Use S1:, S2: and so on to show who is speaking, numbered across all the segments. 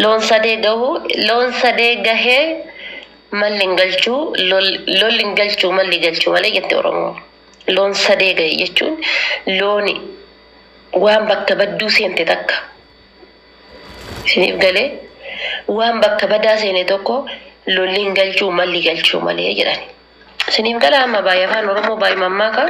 S1: Loon sadee gahuu loon sadee gahee malli hin galchuu lolli hin galchuu malli galchuu malee jette Oromoo. Loon sadee gahe jechuun looni waan bakka badduu seente takka. Isiniif galee waan bakka badaa seene tokko lolli hin galchuu malli galchuu malee jedhani. Isiniif gala amma baay'ee afaan Oromoo baay'ee mammaakaa.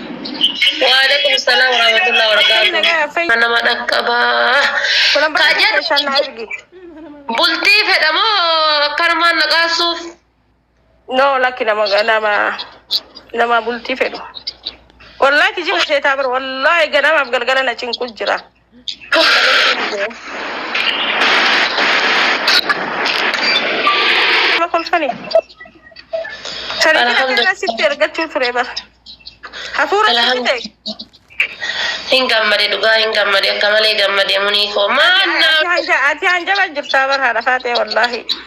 S2: Waalaikum
S1: salam warahmatullahi wabarakatuh. Kan nama dhaqqaba. Kulan Kaa baay'ee keessan na jedhu argi. bultii fedha moo akkanumaan naqaasuuf? No
S2: lakki nama nama nama bultii fedhu. Wallahi kijiba seetaa bira wallahi ganamaaf galgala na cinqu jira. Ma kolfani? Sani Alhamdulillah. sitti ergachuu ture bar. Hafuura sitti Alhamdu- ta'e.
S1: Hin gammade dhugaa hin gammade akka malee gammade munii koo maannaa Ati hanja- Ati hanjaba
S2: jirtaa bar haadha faatee wallaahi.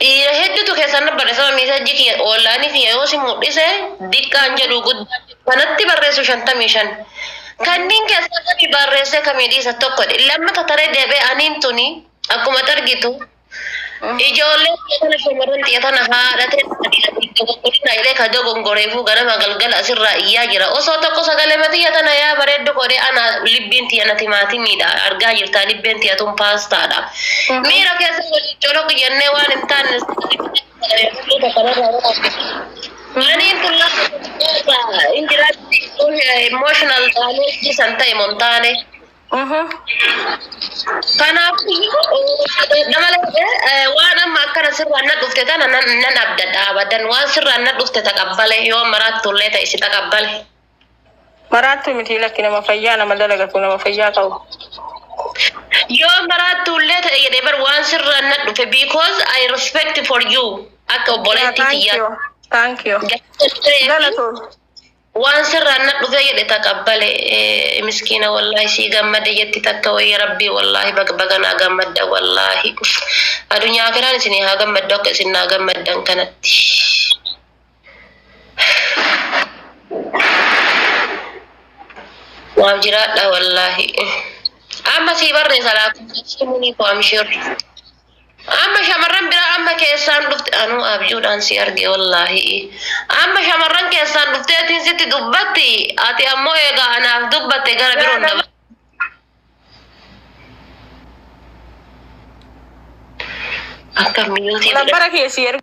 S1: Dhiira heddutu keessan dhabbadha saba miisajji kiyya oonlaanii kiyya yoo si mudhise diqqaan jedhu guddaan jedhu kanatti barreessu shantamii shan kanniin keessaa kami barreessee kamii dhiisa tokko dhe lammata taree deebee aniin tuni akkuma targitu ijoollee kiyya tana shamarran tiyya tana haadhatee dogoggorinaa jedhee ka dogongoreefuu ganama galgala asirraa iyyaa jira osoo tokko sagalee matiyya tana yaa bareeddu koodee ana libbiin tiyya na timaatimiidha argaa jirtaa libbeen tiyya tun paastaadha Miira keessa waliin coloqi jennee waan hin taanne Maniin kun lafa hin jiraatti emotional damage san ta'e mon taane. Kanaafuu malee waan amma akkana sirraan na dhufte tana nan abdadha abadan waan sirraan na dhufte taqabbale yoo maraattu illee ta'e si taqabbale.
S2: Maraattuu miti lakki nama fayyaa nama dalagatu nama fayyaa qabu.
S1: Yoo maraattuu illee ta'e jedhee bar waan sirraan na dhufe because I respect for you akka Yaa obboleettii thank tiyyaa. you thank you
S2: Galatoomi. galatoomi.
S1: Waan sirraan na dhufe jedhe taqabbale eh, miskiina wallaahi sii gammade jetti takka wayya rabbii wallaahi baga baga naa gammadda wallaahi. Adunyaa akiraan isinii haa gammaddu akka isin naa gammaddan kanatti. Naaf jiraadha wallaahi. Amma sii barreessa laakkoofsa munii koo amshir. Amma shamarran biraa amma keessaan dhufte anuu abjuudhaan si arge wallaahi. Amma shamarran keessaan dhufteetiin sitti dubbatti ati ammoo egaa anaaf dubbatte gara biroon daba. Akka miyyootii Nambara kee si erga.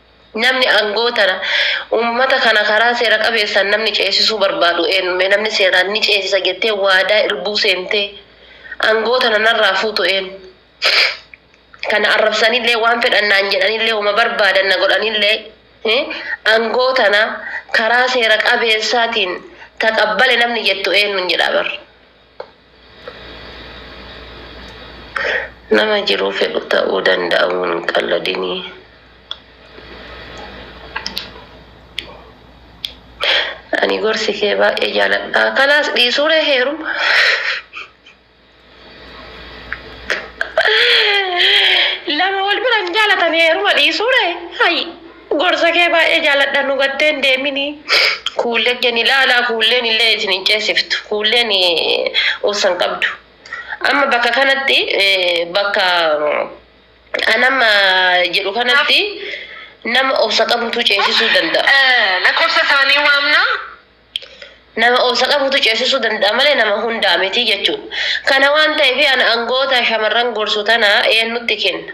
S1: Namni aangoo tana ummata kana karaa seera qabeessaan namni ceesisuu barbaadu eennu? Mee namni seeraan ni ceesisa jettee waadaa irbuu seentee aangoo tana narraa fuutu eennu? Kan na arrabsanillee waan fedhan naan jedhanillee woma barbaadan na godhanillee aangoo tana karaa seera qabeessaatiin ta qabbale namni jettu eennuun jedhaa bar. Nama jiruu fedhu ta'uu danda'amuu hin qalladinii. Ani gorsi kee baay'ee jaaladha. Kalaas dhiisuure heeruma. Lama wal bira hin jaalatan heeruma dhiisuure. Hayi. Gorsa kee baay'ee jaaladha nu gattee hin deemini kuullee ijjan ilaalaa kuulleen illee isin hin ceesiftu kuulleen obsa hin qabdu amma bakka kanatti bakka an amma jedhu kanatti nama obsa qabutu ceesisuu danda'a. Lakkoofsa isaanii
S2: waamna.
S1: Nama obsa qabutu ceesisuu danda'a malee nama hundaa miti jechuudha. Kana waan ta'eef ana angoota shamarran gorsu tana eenyutti kenna?